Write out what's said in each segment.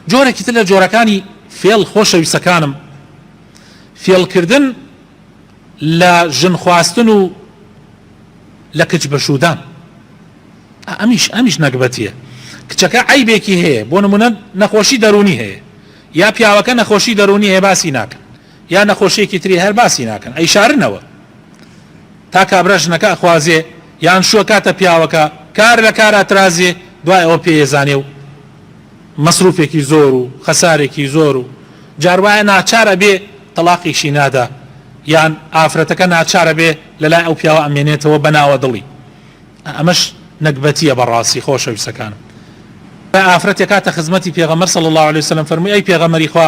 جۆرێکی تر لە جۆرەکانی فێڵ خۆشەویستەکانم فێڵکردن لە ژن خواستن و لە کچ بەشودان ئەمیش ئەمیش نەگبەتیە کچەکە عیبێکی هەیە بۆ نمونە نەخۆشی دەرونی هەیە یا پیاوەکە نەخۆشی دەرونی هەیە باسی ناکە یا نەخۆشیەکی تری هەر باسی ناکەن ئەیشارنەوە تا کابرا ژنەکە ئەخوازێ یان شووە کاتە پیاوەکە کار لە کار ئەترازێ دوای ئەوە پێ ئێزانێ و مەسروفێکی زۆر و خەسارێکی زۆر و جار وایە ناچار ئەبێ تەڵاقیشی نادا یان ئافرەتەکە ناچار ئەبێ لە لای ئەو پیاوە ئەمێنێتەوە بە ناوە دڵی ئەمەش نەگبەتیە بە ڕاستی خۆشەویستەکانم ئافرەتێ کاتە خزمەتی پێغەمبەر صلی اللە علیە وسلم فەرمووی ئەی پێغەمبەری خوا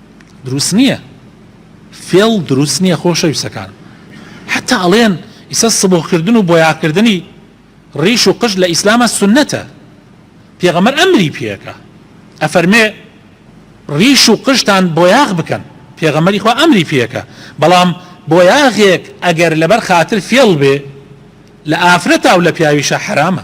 دروست نییە فێڵ دروست نییە خۆشەویستەکان حتا ئەڵێن ئیسە سبغکردن و بۆیاکردنی ڕیش و قژ لە ئیسلامە سنەتە پێغەمەر ئەمری پێەکە ئەفەرمێ ڕیش و قژتان بۆیاغ بکەن پێغەمەری خوا ئەمری پێەکە بەڵام بۆیاغێک ئەگەر لەبەر خاتر فێڵ بێ لە ئافرەتا و لە پیاویشە حرامە